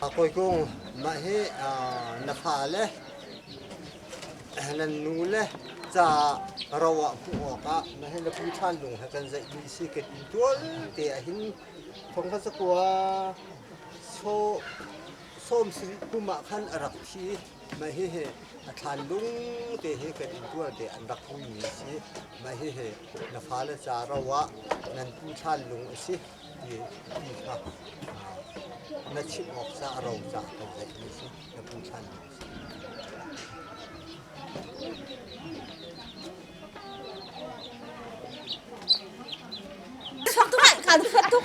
Hawi Kung, mah hi na fale, na nule ca ro ah hmuh awkah na hi na pi ṭhan lung he kan zeih dih si ka ti tual te ah hin thongkha cakua sawm sarih kum ah khan a rak thi. Mah hihi a thlanlung te hi kan intuar te an rak hmumi a si. Mah hihi na fale ca ro ah nan tu thlanlung a si ti, ti kha ah, na chimh awk ca a ro ca kan ceihmi a si. Na pu thlanlung a si. Sak tuk kan sak tuk.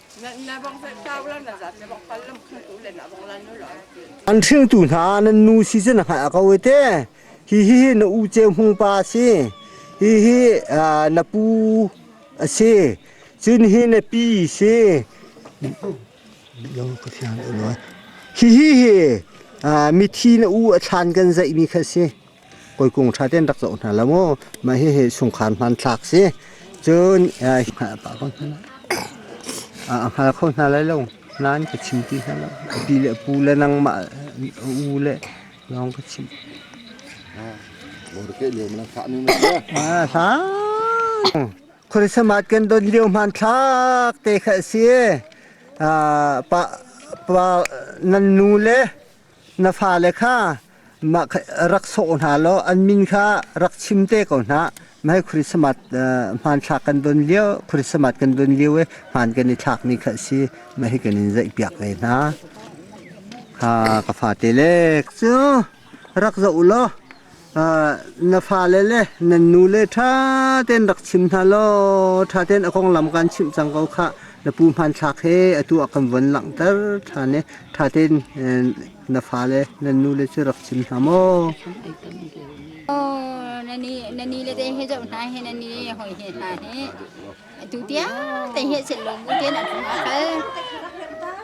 An hringtu hna nan nu season a hngalh a ko ite. Hihi hi na u ceu hmung pa a si. Hihi na pu a si. Cun hi na pi si. Hihi hi mithi na u a thlan kan zaihmi kha a si. Koi kung tha ten rak zoh hna la mu. Mah hi hi sungkhar hmanthlak si. Cun a hngal kho hna lai lo. Nan ka chim ti hna lo. A pi le pu le nangmah u le lawng ka chim. Ah, hlang. Khorisamat kan don lio hmanthlak te kha si. Ah, pa pa nan nu le Na fale kha mah rak sawh hna law an min kha rak chim te ko hna. Mahhi Christmas hmanthlak kan don lio, Christmas kan don lio i hmaan kan i thlak ni kha a si. Mahhi kan in zaihpiak ve hna. Kha ka fate le cu rak zoh law na fale le nan nule ṭha tein rak chim hna law ṭha tein a konglam kan chimh cang ko khah na pu hmanthlak he atu a kan von langhter ṭhan i ṭha tein na fale nan nule cu rak chim hna maw Oh, nani nani le te he zo hna he nani hoi he hna he tu tiang te he sen lo mu te na kong a hal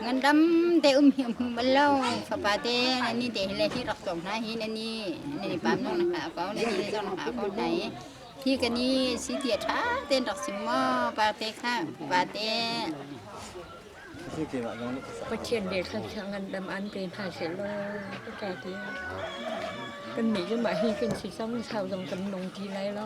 ngandam te um hi um mal lo fapa te nani te le hi rak tong na hi nani nani pam nong na ka ko nani le jong na ko nai hi kani si ti tha ten rak sim mo pa te kha pa te Pathian le thang sang an dam an pe hna se lo ka ta ti kan mi zuma hi kan si sang sau dong kan nong ti lai lo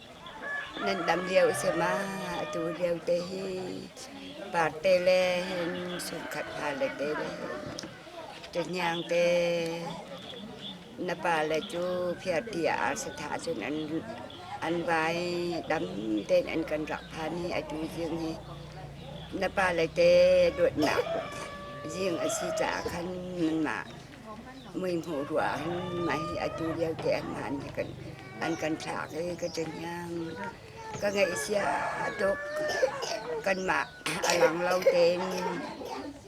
nan dam lio a si ma? Atu lio te hi parte le hin sunkhat pa le te le hin ṭahniang te na pale cu phiarti a ar sa tha cun an an vai dam tein an kan rak phan i atu zing hi na pale te dawtnak zing a si caah khan nanmah muihmuh ruah ah mah hi atu lio te ah mah nih kan an kan thlak i ka taniam ka ngeihsia a tuk kanmah a lang lo tein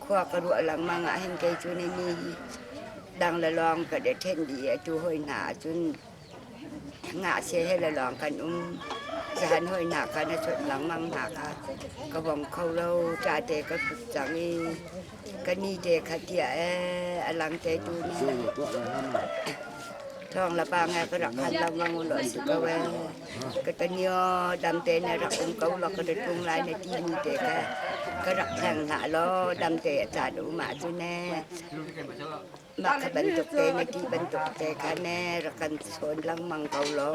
khua ka ruah lengmang ah hin kei cu ni ni dang le lawng ka de ṭhen dih i atu hoi hna ahcun Ngahsia he le lawng kan um. Zahan hawinak kan a chut lengmang hna kha ka bawm kho lo. Ṭa te ka hrut cang i ka ni te kha tia ee a lang te tu ne. Thawng la pa ngai ka rak han lengmang ulo si ko e. Ka tanio dam te ne rak um ko lo ka rit tung lai ne ti ni te ka ka rak hleng hna lo dam te a chan um ah tu ne. mah ka bantuk te na ti bantuk te kha ne rak kan chawn lengmang ko lo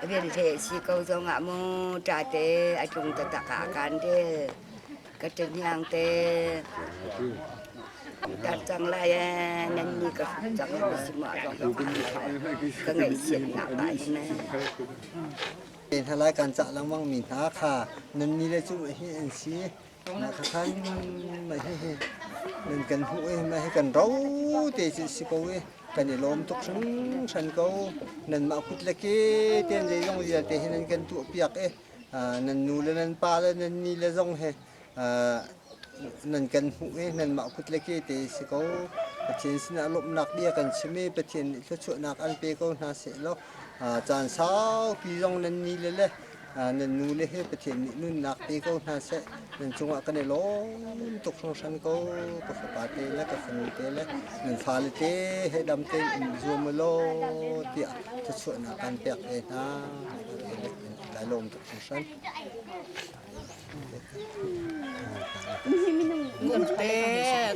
vialte si ko zong ah mu ta te a tlung ta tak a kan de ka tanyang te tar cang lai eh nan ni ka cang na si ma ro ka ka ngai sian na ba ne thalai kan cha langmang mi hna kha nan ni le chu hi an si Na ka khan mah hihi nan kan hmuh i mah hi kan ro te si si ko i kan i lawm tuk hringhran ko nanmah kut le ke ten zeizong vialte hi nan kan tuah piak i nan nu le nan pa le nan ni le zong he nan kan hmuh i nanmah kut le ke te si ko Pathian sinah lawmhnak bia kan chim i Pathian nih thluachuahnak an pe ko hna seh law caan saupi zong nan ni le le nan nule hi Pathian nih nunnak pe ko hna seh nan cungah kan i lawm tuk hringhran ko ka fapa te le ka fanu te le nan fale te he dam tein um zuam law tiah thluachuahnak kan pek ve hna lailawm tuk hringhran Ngun te,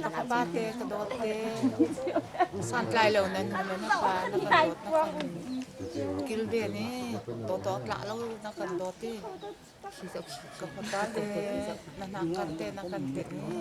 ka pa te, ka do te. Santlai lo nan hum na pa na ka dot na kan kilve ni to to tla lo na kan doti. Ka pa te na na kan te na kan te ni.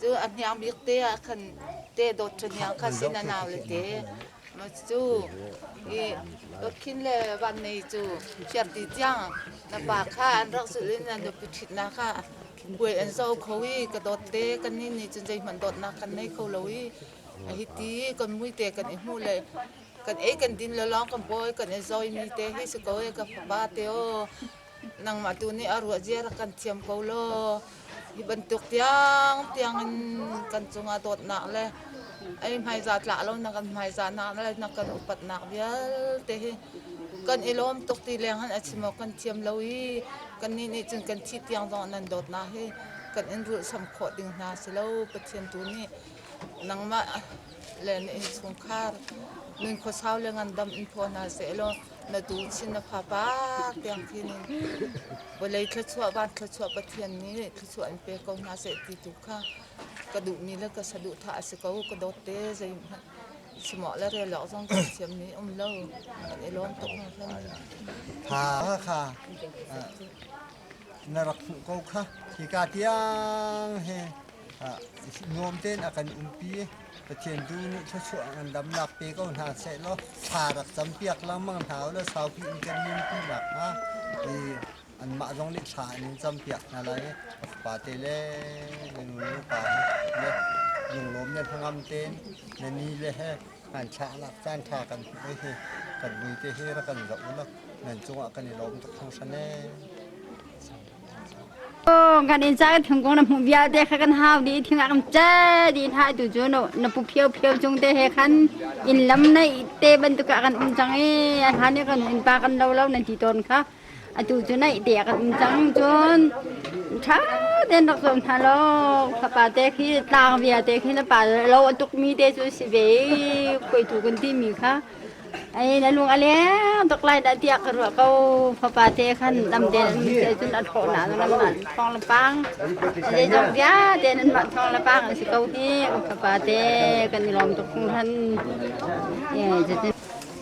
Cu a hniang bik te ah khan te dawt ṭha hniang kha sin a nau le te. Ma cu i dawthin le vannei cu phiarti tiang na pa kha an rak zulh in an nupi ṭhitnak ah puai an zo kho i ka dawt te kan nih nih cun zeihmanh dawtnak kan nei kho lo i a hiti i kan muite kan i hmuh le kan ei kan din le lawng kan bawi kan i zawimi te hi si ko e ka fapa te aw nangmah tu nih a ruah zia rak kan thiam ko law hi bantuk tiang tiang in kan cungah dawtnak le ei hmaiza tlah lo na kan hmaiza nak le na kan upatnak vialte hi kan i lawm tuk ti leng han a chim awk kan thiam lo i kan nih nih cun kan thih tiang zong nan dawtnak hi kan in rulhsam khawh ding hna si lo Pathian tu nih nangmah le na innchungkhar nun khuasau le ngandam in phaw hna seh law na tu chin na fa pak tiang khin in vawlei thluachuah van thluachuah pathian nih thluachuah in pe ko hna seh ti tu kha ka duh ni le ka saduh tha a si ko ka dawt te zei hmanh simoh le rel lok zong ka siam ni um lo kan i lawm tuk hna khan tha kha na rak hmuh ko kha hika tiang he nuam tein a kan umpi Pathian tu nih thluachuah an damnak pe ko hna sehlaw thla rak campiak lengmang hna u le saupi in kan nunpi nak hnga i anmah zong nih thla in campiak hna lai pa te le le nu le pa he le lunglawm le hnangam tein le ni le he Nganchah a lak caan ṭha kan hmuh i kan muite hi rak kan zoh ulaw nan cungah kan i lawm tuk thang hran ee. Oh, kan in cha kan thung kong na hmuh bia te kha kan hau di thing an che di tha tu chu no na pu phio phio chung te he khan in lam nei te bantuk kan um chang i a han kan in pa kan lo lo nan ti ton kha atu cu naihte a kan cang cun ṭha tein rak zuam hna law ka pa te khi tlang via te khi na pa lo a tukmi te cu si ve koitu kan timi kha ai na lung a leng tuk lai dah tiah ka ruah ko fapa te khan dam te te cun a thawh na nan mah thong la pang a zong via te nan mah thong la pang si ko hi fapa te kan i lawm tuk khan eh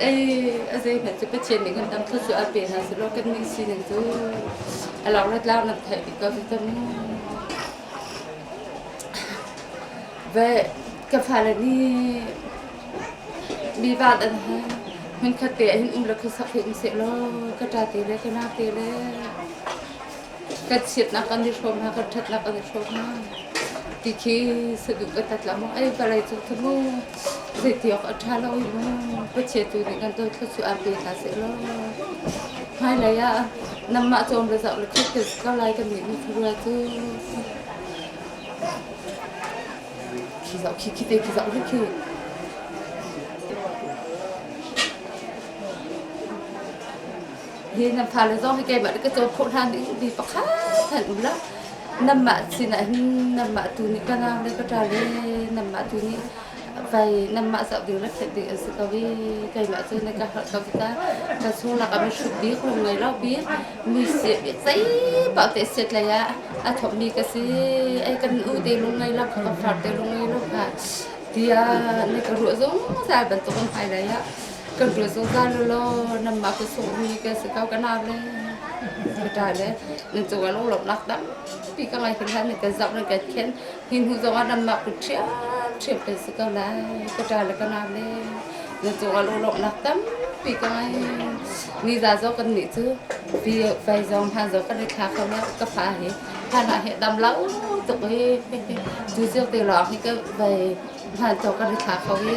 Ei, a zeihmanh cu Pathian nih kan tam thut cu a pe hna selaw kan nih sining cu a laurat lau nan theih dih ko cu cang. Ve, ka fale nih mi van an hai. Hmunkhat te ah hin um le khuasak hi um sehlaw ka ṭa te le ka nau te le kan chiatnak kan i hrawm hna, kan ṭhatnak kan i hrawm hna. Ti khi saduh ka tat la mu. Ei, vawlei cu ka mu. Zeiti awk a ṭha lo i khuachia tu nih kan dothlo cu ar te hna sehlaw hmailei ah nanmah cawm le zoh le ṭhit ka ko lai ka nih na thurua cu zoh khi khi te khi zoh hi khi hi nan fale zong hi keimahle ka cawn khawh hlan in mi pakhat han um la nanmah sinah hin nanmah tu nih ka nau le ka ṭa le nanmah tu nih pei nanmah zoh ding na phenh ding an si ko i keimah cu na ka harh ko ki ta ka sulak a mi hruk bik rum ngei lo bik mi siat i zei paoh te siat lei ah a thawkmi ka si ei kan u te lung ngei lo ka far te lung ngei lo hna tiah na ka ruah zungzal bantuk in hmailei ah Kan vile zungzal lo law nanmah ka sawhmi kan si ko kan ar le ka ṭai le nan cung ah lunglawmhnak tampi ka ngei hin lai nan kan zamh nan kan khen hi hnu zong ah nanmah ku ṭhiamṭhiam kan si ko lai ka ṭai le kan ar le nan cung ah lunglawmhnak tampi ka ngei ni za zong kan nih cu pi fei zong hman zong kan i thla ko leo ka fa hi hman ah he dam lo tuk hi tu zio te lawng hi ka vei hman zong kan i thla ko hi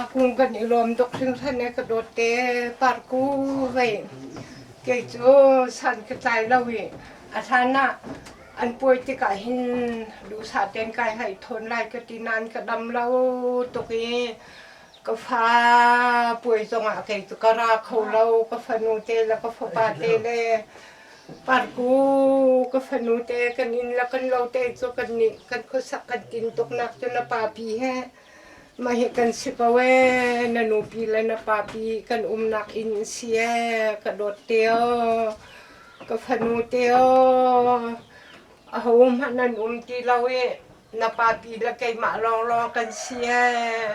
Akung kan i lawm duk hringhren e ka dawt te parku vei kei cu san ka tlai lo i a hlan ah an puai tikah hin duhsah tein kai hai thawn lai ka ti nain ka dam lo tuk i ka fa puai zongah kei cu ka ra kho lo ka fanu te le ka fapa te le Parku ka fanu te kan inn le kan lo te cu kan nih kan khuasak kan tin tuk nak cu na pa pi he mah hi kan si ko ee na nu pi le na pa pi kan umnak inn si ee ka dawt te aw ka fanu te aw aho hmanh an um ti lo i Na papi le keimah lawnglawng kan si ee.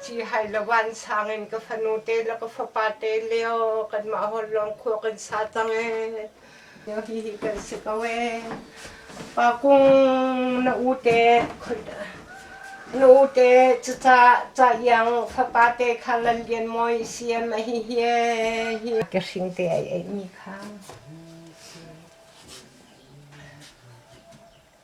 Cihhai le vansang in ka fanu te le ka fapa te lio kanmah holhlawng khua kan sa cang ee. Lio hihi kan si ko ee. Pa kung na u te na u te cuca ca hiang fapa te kha lan lian moi si em a hi hi hi ka hring te ai ai mi kha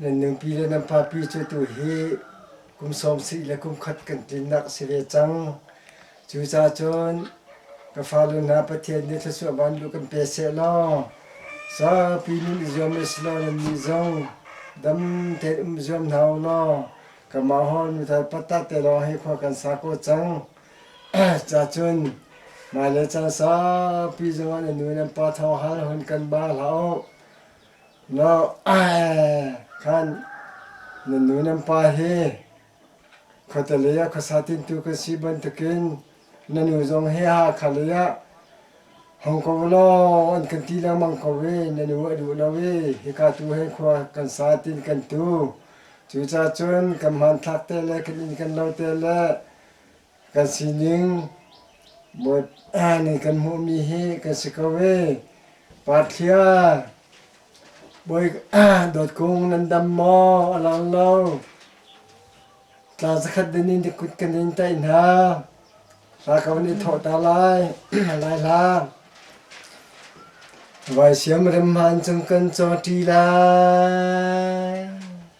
Nan nupi le nan papi cu tuhi kum sawmsih le kum khat kan tlinnak a si ve cang. Cucacun ka fale hna Pathian nih thluachuah vanlu kan pe seh law saupi nun i zuam a si law nannih zong dam tein um zuam hna u law kanmah hor nu thal patta te lawng hi khua kan sa ko cang. Cacun mah le caan saupi zongah na nu nan pa thawng hal hun kan ba hlah u. Khan nan nu nan pa hi khuate lei ah khuasa tintu kan si bantukin na nu zong hi Hakha lei ah hong ko law an kan ti lengmang ko i na nu a duh lo i hika tu he khua kan sa tiin kan tu. Cucacun kan hmanthlak te le kan inn kan lo te le Kan sining nih kan hmuhmi hi kan si ko ee. Pathlia bawi dawt kung nan dam maw a lang lo. Tla zakhat din in kut kan in taih hna. Hla ka van i thawh ta lai. Lai hla. Vai siam rem han cung kan caw ṭi lai.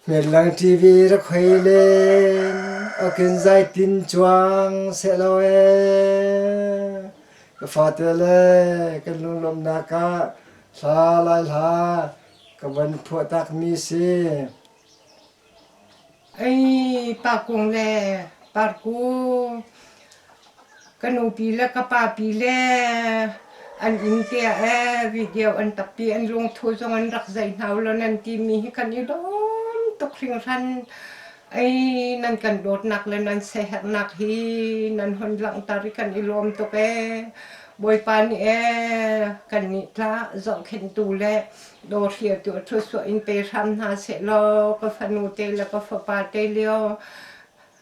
Hmellang TV rak hoi len awk in zeitin cuang sehlaw ee ka fate le kan lunglawmhnak ah hla lai hla ka van phuah takmi si. Ei pa kung le par ku Ka nupi le ka papi le an inn te ah ee video an tappi, an lungthu zong an rak zaih hna ulaw nan timi hi kan i dawm tuk hringhran. Ei nan kan dawtnak le nan siaherhnak hi nan hun langhter i kan i lawm tuk ee. Bawipa nih ee kannih tla zohkhenhtu le dawhriatu a thlusuah in pe hram hna sehlaw ka fanu te le ka fapa te lio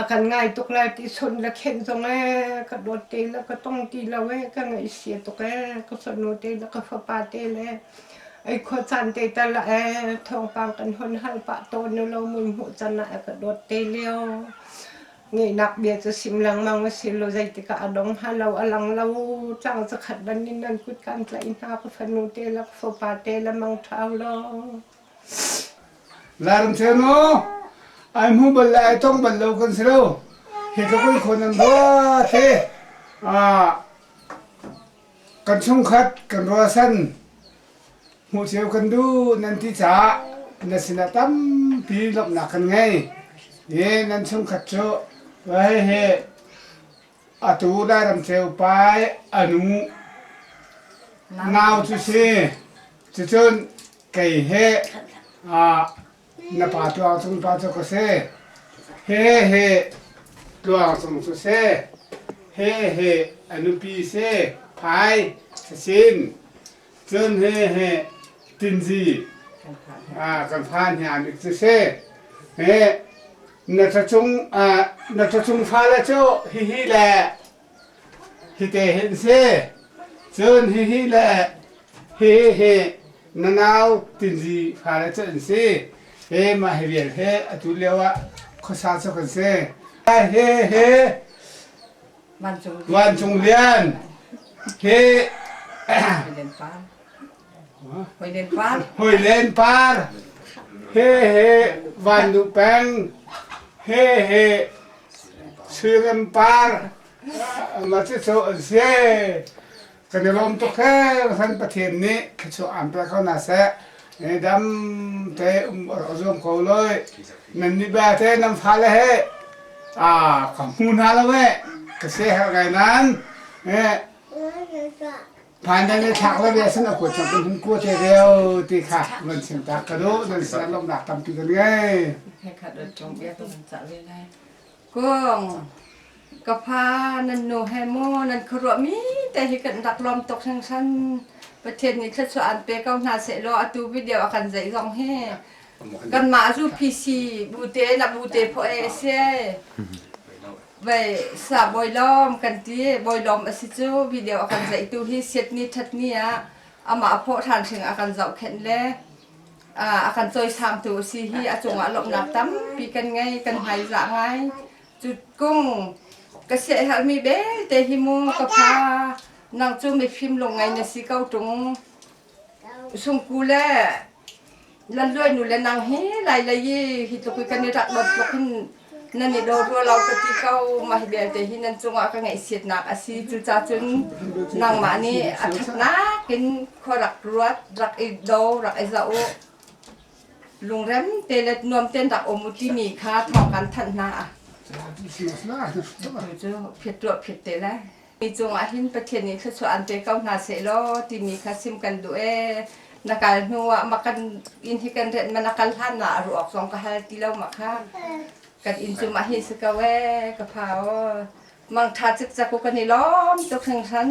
A kan ngai tuk lai ti sonh le khenh zong ee ka dawt te le ka tong ti lo ee ka ngaihsia tuk ee ka fanu te le ka fapa te le ei khua caan te tal ee thawngpang kan hon hal pah tawn nu lo mun hmuh can ah a ka dawt te lio ngeihnak bia cu sim lengmang a si lo zeitikah a dong hnga lo a lang lo tlang zakhat ban in nan kut kan tlaih hna ka fanu te le ka fapa te le mangṭhau law Laram cheu ai hmu bal le ai tong bal lo kan si lo. Hi tluk in khon an ruat hi kan chungkhat kan ruahsan hmuh cio kan duh nan ti caah na sinah tampi lawmhnak kan ngei. Hi nan chungkhat cu hihi Atu Lairam Ceu pai anu nau cu si cucun kei he na pa Tluang Cung pa cu ka si he he Tluang Cung cu si he he a nupi si pai sasin Cun he he tinzi kan phan hna mi cu si. He na thachung na thachung fale cu hihi le hite hin si. Cun hihi le hihi hi na nau tinzi fale cu an si. He mah hi vial he atu lio ah khuasa cu kan si. He he Vancung Lian hi Hoi Len Par he he Van Nu Peng he he Sui Rem Par ma cu cu an si. Kan i lawm tuk hran Pathian nih thluachuah aan pe ko hna seh. Dam te um rak zuam ko loi. Nan nih bia te nan fale he a ka hmu hna lo e ka se har gai nan phan dan le thlak la ve san ku chap hin ku te reo ti kha man sim ta ka do nan san lok nak tampi kan ngai he khat ot chong bia to nan cha ve lai Kung, ka pa nan nu he maw nan khuaruah mi te hi kan rak lawm tuk hringsan. Pathian nih thluachuah an pe ko hna seh law atu video a kan zeih zong hi kanmah zu PC bu te na bu te phaw e si. Vai sa bawi lawm kan ti bawi lawm a si cu video a kan zeih tu hi siat ni that ni ah amah a phaw than hring a kan zoh khenh le a kan cawisangtu a si hi a cungah lawmhnak tampi kan ngei kan hmaizah ngai cu kung ka siaherhmi belte hi mu ka pha nang cu mifim lungngai na si ko ṭung sungku le lanluai nu le nang hi lai lei i hi tluk i kan i rak dot tluk hin nan i daw hluah lo ka ti ko mah belte hi nan cungah ka ngaihsiatnak a si cucacun nangmah nih a ṭhatnak in khua rak ruat rak i do rak i za u lungrem te le nuam ten rak um u timi kha thawng kan thanh hna phet ruah phet te le Mi cungah hin Pathian nih thluachuah aan pe ko hna seh law timi kha chim kan duh ee. Na kal hnuah mak kan inn hi kan renh ma na kal hlanah a ruah awk zong ka hal ti lo mak ha. Kan inn cungah hi si ko ee ka pha aw. Mangṭha cikcak u kan i lawm tuk hringhren.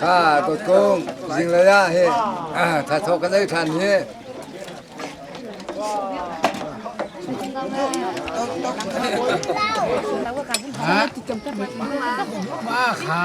Kha dawt kung zinglei ah hi tha thawk kan ei than hi ma kha